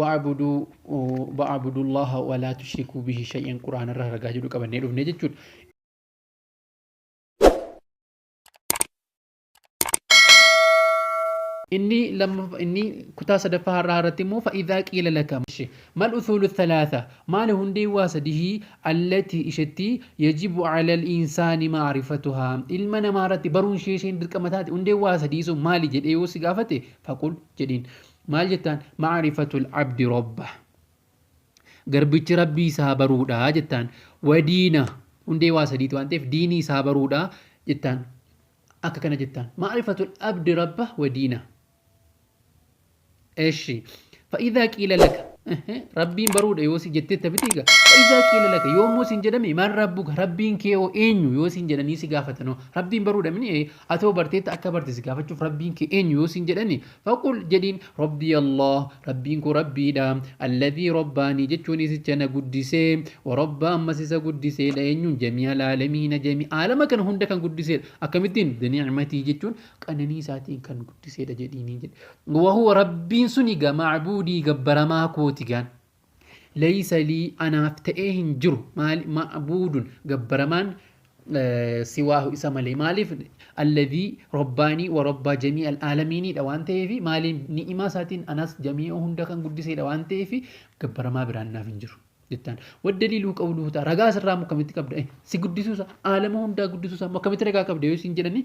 Wa'abuduu wa'abudullaaha walaa tushrikuu bihi shay'an quraanarraa ragaa jedhu qabannee dhufne jechuudha. inni lammaffaa inni kutaa sadaffaa har'aa irratti immoo fa'idaa qiila laka mal usuulu thalaatha maali hundee waa sadihii allati ishetti yajibu calal insaani maarifatuhaa ilma namaa irratti baruun ishee isheen dirqama taate hundee waa sadii sun maali jedhee yoo si gaafate faqul jedhiin Maal jettaan? Ma'arifatul abdi robba. Garbichi rabbii isaa baruudha jettaan. Wadiina hundee waa sadiiti waan ta'eef diinii isaa baruudha jettaan. Akka kana jettaan. Ma'arifatul abdi rabba wadiina. Eshi. Fa'idaa qiila laka. Rabbiin baruudha yoo si jettee taphitee egaa. Fa'idaa qiila laka yoo immoo siin jedhame maal rabbuka rabbiin kee hoo eenyu yoo siin jedhanii si gaafatanoo. Rabbiin baruudha mini atoo barteetta akka barte si gaafachuuf rabbiin kee eenyu yoo siin jedhani Faqul, jedhiin, Rabbii Allah, Rabbiin koo Rabbiidha, Alladhii Rabbaanii jechuun isicha na guddise, wa Rabba ammas isa guddiseedha, eenyuun, Jamii'al Aalamiina Jamii aalama kana hunda kan guddiseedha, akkamittiin, Bini'matii jechuun qananii isaatiin kan guddiseedha jedhiinii jedhe. Wa huwa Rabbiin suni egaa ma'buudii gabbaramaa kooti gan. Leysa lii anaaf ta'ee hin jiru maali ma'buudun gabbaramaan siwaahu isa malee maaliif alladhii robbaanii wa robbaa jamii'al aalamiiniidha waan ta'eefi maaliin ni'imaa isaatiin anas jamii'a hunda kan guddiseedha waan ta'eefi gabbaramaa biraan naaf hin jiru jettaan waddaliiluu qawluhu ta'a ragaa asirraa akkamitti qabda si guddisuusa aalama hundaa guddisuusa akkamitti ragaa qabda yoo isin jedhanii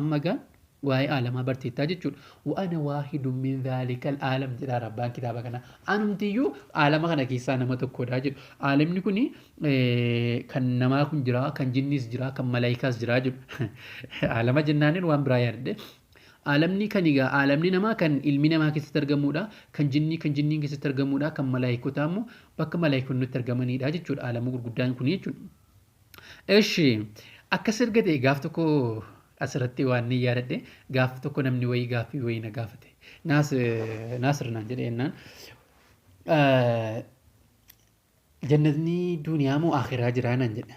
Amma egaa waa'ee aalamaa barteettaa jechuudha. Wa ana waahidun min dhaalikal aalam jedhaara abbaan kitaaba kanaa. Anumtiyyuu aalama kana keessaa nama tokkodha jedhu. Aalamni kun kan namaa kun jira, kan jinniis jira, kan malaayikaas jira jedhu. Aalama jennaanin waan biraa yaadadhe. Aalamni kan egaa aalamni namaa kan ilmi namaa keessatti argamudha. Kan jinnii kan jinniin keessatti argamudha. Kan malaayikotaa immoo bakka malaayikonni itti argamanidha jechuudha. Aalama gurguddaan kun jechuudha. Eshi akkas erga ta'e gaaf tokko asirratti waan ni yaadadhe gaaf tokko namni wayii gaaffii wayii na gaafate naasir naan jedhe jennaan jannatni duuniyaa moo akiraa jiraa naan jedhe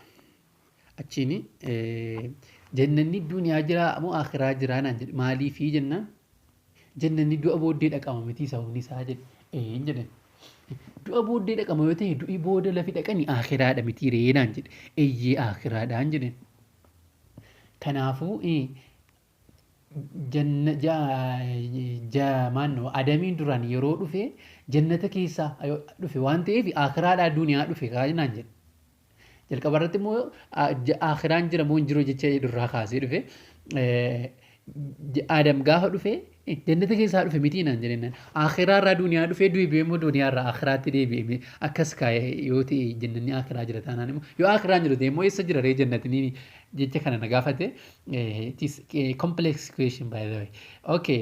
achiin jannanni duuniyaa jiraa moo akiraa jiraa naan jedhe maaliifii jennaan Jannanni du'a booddee dhaqama mitii sababni isaa jedhe. Een jedhen. Du'a booddee dhaqama yoo ta'e du'i booda lafi dhaqani aakiraadha mitii ree naan jedhe. Eyyee aakiraadhaan jedhen. Kanaafuu janna ja ja maanno adamiin duraan yeroo dhufe jannata keessaa dhufe waan ta'eef aakiraadhaa duniyaa dhufe kaa naan jedhe. Jalqaba irratti immoo aakhiraan jira moo hin jiru jecha jedhu irraa kaasee dhufe. Aadam gaafa dhufe jannata keessaa dhufe mitii naan jedhennaan. Aakhiraa irraa duuniyaa dhufee deebi'ee immoo duuniyaa irraa aakhiraatti deebi'ee akkas kaa'e yoo ta'e jannanni aakhiraa jira taanaan immoo yoo aakhiraan jiru ta'e immoo eessa jira ree jannatni jecha kana na gaafate. It is a complex question by the way. Okay.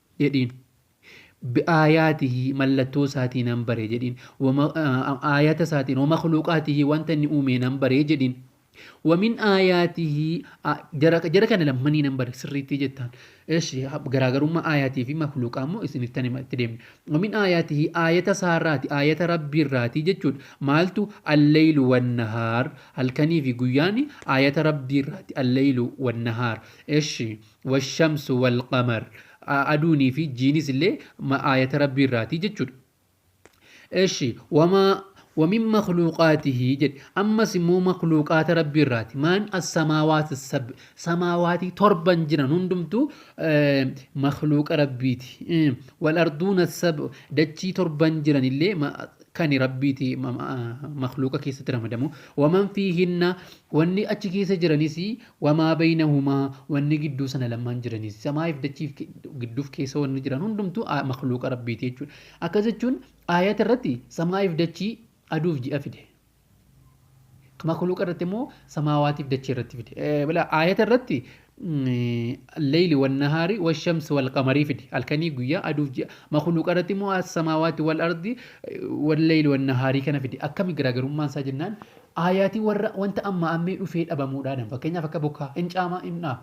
jedhiin. Bi'aayaatihi, mallattoo isaatii nan bare jedhiin. Aayata isaatiin, wa makhluuqaatihi, wanta inni uumee nan bare jedhiin. Wa min aayaatihi, jara kana lammanii nan bare sirriittii jettaan. Eshi, garaagarummaa aayaatii fi makhluuqaa immoo isiniif tan itti deemne. Wa min aayaatihi, aayata isaarraati, aayata rabbii irraati jechuudha. Maaltu alleylu wannahaar, halkanii fi guyyaani aayata rabbii irraati, alleylu wannahaar. Eshi, Washamsu wal qamar, aduunii fi jiinis illee aayata Rabbii irraati jechuudha. Eshi wamaa wamin makluuqaatihi jedhe ammas immoo makluuqaata Rabbii irraati maan assamaawaati sab samaawaatii torban jiran hundumtuu makluuqa Rabbiiti wal arduuna sab dachii torban jiran illee kani Rabbiiti makluuqa keessatti ramadamu waman fiihinna wanni achi keessa jiranis Wa maa baynahumaa, wanni gidduu sana lamman jiraniis, samaa'ii fi dachii fi gidduu fi keessa wanni jiran hundumtuu makhluuqa Rabbiiti jechuudha. Akkas jechuun aayata irratti samaa'ii fi dachii, aduu fi ji'a fide. Makhluuqa irratti immoo samaawaatii fi dachii irratti fide. Aayata irratti al-layli wan-nahaari wash-shamsi wal-qamarii fide. Halkanii guyyaa, aduu fi ji'a. Makhluuqa irratti immoo as-samaawaati wal-ardi wal-layli wan-nahaarii kana fide. Akkami garaagarummaan isaa jennaan Aayati warra wanta ammaa ammee dhufee dhabamuu dhaadan fakkeenyaaf akka bokkaa, hin caamaa, hin dhaa.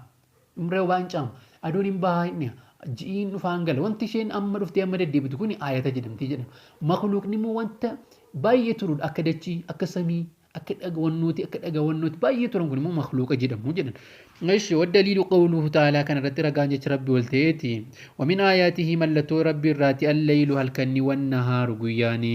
Dhumree obaa hin caama. Aduun hin bahaa, hin dhiha. Ji'ii hin dhufaa, hin gala. Wanti isheen amma dhuftee amma deddeebitu kuni aayata jedhamti jedhan. Makluuqni immoo wanta baay'ee turuudha akka dachii, akka samii, akka dhaga wannooti, akka dhaga wannooti baay'ee turan kun immoo makluuqa jedhamu jedhan. Eshi waddaliilu qawluhu ta'aalaa kana irratti ragaan jecha rabbi ol ta'eeti. Wamin aayaatihi mallattoo rabbi irraati allaylu halkanni wannahaaru guyyaani.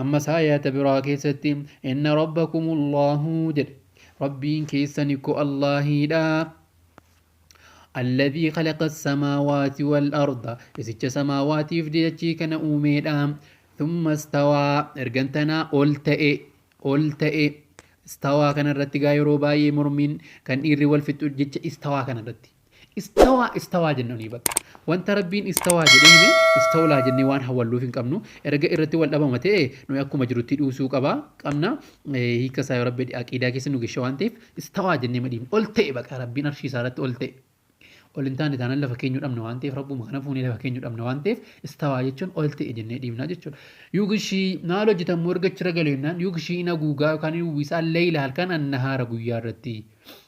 Ammas aayaata biraa keessatti Inna Rabbakumu Allaahu jedhe. Rabbiin keessan ikko Allaahiidha. Alladhii khalaqa as-samaawaati wal arda. Isicha samaawaatiif dachii kana uumeedha. Thumma istawaa ergan tanaa ol ta'e ol ta'e istawaa kanarratti gaa yeroo baay'ee mormiin kan dhiirri wal fixu jecha istawaa kanarratti. Istawaa istawaa jennunii bakka. Wanta Rabbiin istawaa jedhee hime istawlaa jennee waan hawalluuf hin qabnu. Erga irratti wal dhabama ta'e nuyi akkuma jirutti dhuusuu qaba qabna. Hiika isaa yoo Rabbi aqiidaa keessa nu geshe waan ta'eef istawaa jennee madhiifne. Ol ta'e baqa Rabbiin arshii isaa irratti ol ta'e. Ol hin taane taanaan lafa keenyu dhabna waan ta'eef Rabbuma kana fuunee lafa keenyu dhabna waan ta'eef istawaa jechuun ol ta'e jennee dhiifna jechuudha. Yugshii maal hojjetan moo erga achirra galu jennaan yugshii hin haguugaa yookaan hin uwwisaa leeyla halkan annahaara guyyaa irratti.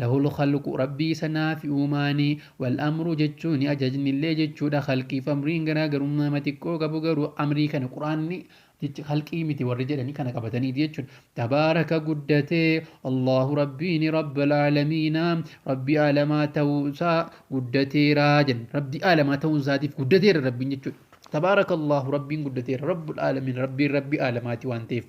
Lahul khalqu Rabbii isa naafi uumaani. Wal amru jechuuni ajajnillee jechuudha. Khalqiif amriin garaagarummaama xiqqoo qabu garuu amrii kana qur'aanni jecha khalqii miti warri jedhani kana qabataniiti jechuudha. Tabaaraka guddate Allaahu Rabbiini Rabbal aalamiina Rabbii aalamaa ta'uu isaa guddateera jenna. Rabbii aalamaa ta'uun isaatiif guddateera Rabbiin jechuudha. Tabaaraka Allaahu Rabbiin guddateera Rabbul aalamiina Rabbiin Rabbii aalamaati waan ta'eef.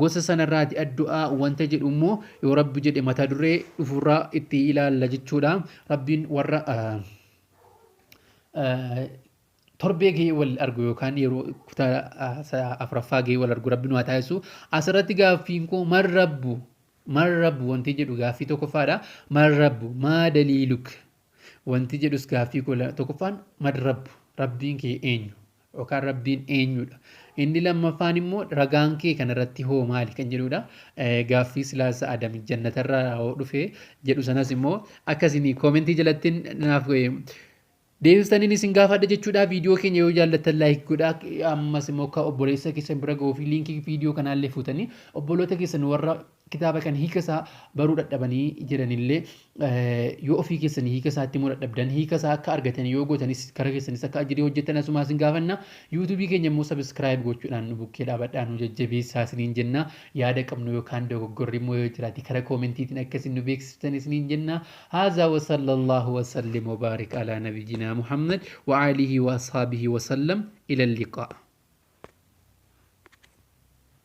Gosa sanarraati addu'aa wanta jedhu immoo yoo Rabbi jedhe mata duree dhufurraa itti ilaalla jechuudha. Rabbiin warra torbee gahee wal argu yookaan yeroo kutaa afuraffaa gahee wal argu rabbi nu haa taasisu. Asirratti gaaffiin koo man rabbu man rabbu wanti jedhu gaaffii tokkoffaadha. Man rabbu maa daliiluk wanti jedhus gaaffii koo tokkoffaan man rabbu rabbiin kee eenyu yookaan Rabbiin eenyudha? Inni lammaffaan immoo ragaan kee kana irratti hoo maali kan jedhudha. Gaaffii silaasa Adam jannatarraa hoo dhufe jedhu sanas immoo akka isin koomentii jalatti naaf deebistaniin isin gaafadha jechuudha. Viidiyoo keenya yoo jaallattan laayik godhaa. Ammas immoo akka obboleessa keessan bira ga'uu fi liinkii viidiyoo kanaallee fuutanii obboloota keessan warra kitaaba kan hiika isaa baruu dhadhabanii jiranillee yoo ofii keessanii hiika isaa itti immoo dhadhabdan hiika isaa akka argatan yoo gootanis kara keessanis akka ajjidee hojjettan asumaa isin gaafanna yuutuubii keenya immoo sabiskiraayib gochuudhaan nu bukkee dhaabadhaa nu jajjabeessaa isiniin jenna yaada qabnu yookaan dogoggorri immoo yoo jiraate kara koomentiitiin akka isin nu beeksiftan isiniin jenna haazaa wasallallaahu wasallim wabaarik alaa nabiyyinaa muhammad wa aalihi wa ashaabihi wasallam ila liqaa